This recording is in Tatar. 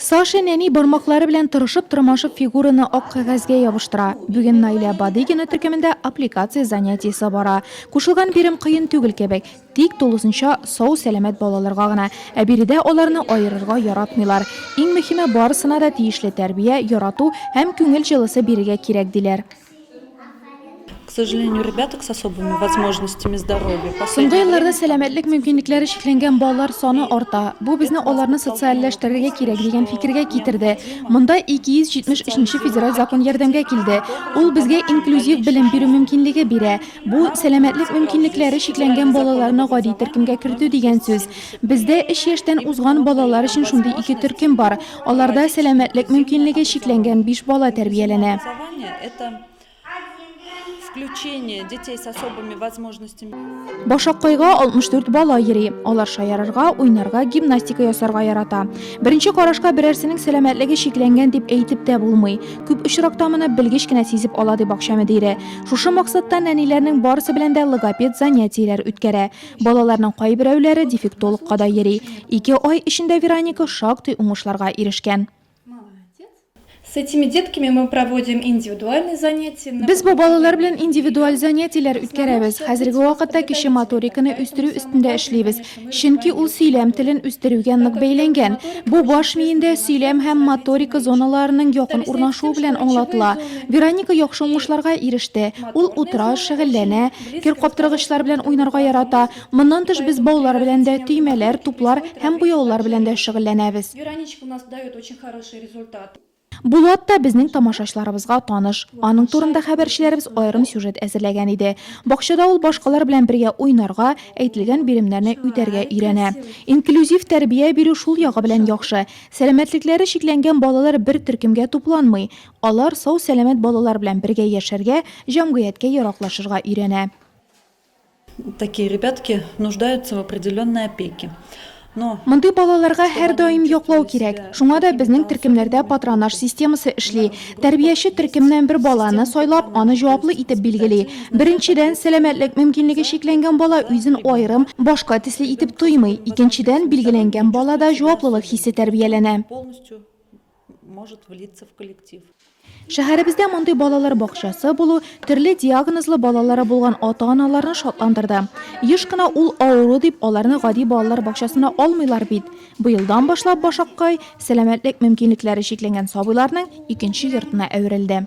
Саша нәни бармаклары белән тырышып-тырмашып фигураны ак кәгазьгә ябыштыра. Бүген Наилә Бадыйгина төркемендә аппликация занятиесе бара. Кушылган бирем кыен түгел кебек, тик тулысынча сау-сәламәт балаларга гына. Ә биредә аларны аерырга яратмыйлар. Иң мөһиме, барысына да тиешле тәрбия, ярату һәм күңел җылысы бирергә кирәк, диләр. Соңгы елларда сәламәтлек мөмкинлекләре чикләнгән балалар саны арта. Бу безне аларны социальләштерергә кирәк дигән фикергә китерде. Монда 273 нче федераль закон ярдәмгә килде. Ул безгә инклюзив белем бирү мөмкинлеге бирә. Бу, сәламәтлек мөмкинлекләре чикләнгән балаларны гади төркемгә кертү дигән сүз. Бездә өч яшьтән узган балалар өчен шундый ике төркем бар. Аларда сәламәтлек мөмкинлеге чикләнгән биш бала тәрбияләнә. Башаккайга 64 бала йөри. Алар шаярырга, уйнарга, гимнастика ясарга ярата. Беренче карашка берәрсенең сәламәтлеге чикләнгән дип әйтеп тә булмый. Күп очракта моны белгеч кенә сизеп ала, ди бакча мөдире. Шушы максаттан әниләрнең барысы белән дә логопед занятиеләр үткәрә. Балаларның кайберәүләре дефектологка да йөри. Ике ай эчендә Вероника шактый уңышларга ирешкән. С этими детками мы проводим индивидуальные занятия. Без бу балалар белән индивидуаль занятиеләр үткәрәбез. Хәзерге вакытта кеше моториканы үстерү өстендә эшлибез, чөнки ул сөйләм телен үстерүгә нык бәйләнгән. Бу баш миендә сөйләм һәм моторика зоналарының якын урнашуы белән аңлатыла. Вероника яхшы уңышларга иреште. Ул утыра, шөгыльләнә. Кер каптыргычлар белән уйнарга ярата. Моннан тыш без баулар белән дә, төймәләр, туплар һәм буяулар белән дә шөгыльләнәбез. Булат та безнең тамашачыларыбызга таныш. Аның турында хәбәрчеләребез аерым сюжет әзерләгән иде. Бакчада ул башкалар белән бергә уйнарга, әйтелгән биремнәрне үтәргә өйрәнә. Инклюзив тәрбия бирү шул ягы белән яхшы. Сәламәтлекләре чикләнгән балалар бер төркемгә тупланмый. Алар сау-сәламәт балалар белән бергә яшәргә, җәмгыятькә яраклашырга өйрәнә. Такие ребятки нуждаются в определенной опеке, но. Мондый балаларга һәрдаим яклау кирәк. Шуңа да безнең төркемнәрдә патронаж системасы эшли. Тәрбияче төркемнән бер баланы сайлап, аны җаваплы итеп билгели. Беренчедән, сәламәтлек мөмкинлеге чикләнгән бала үзен аерым, башка төсле итеп тоймый. Икенчедән, билгеләнгән балада җаваплылык хисе тәрбияләнә. может влиться в коллектив. Шәһәребездә мондый балалар бакчасы булу төрле диагнозлы балалары булган ата-аналарны шатландырды. Еш кына ул авыру дип аларны гади балалар бакчасына алмыйлар бит. Быелдан башлап Башаккай сәламәтлек мөмкинлекләре чикләнгән сабыйларның икенче йортына әверелде.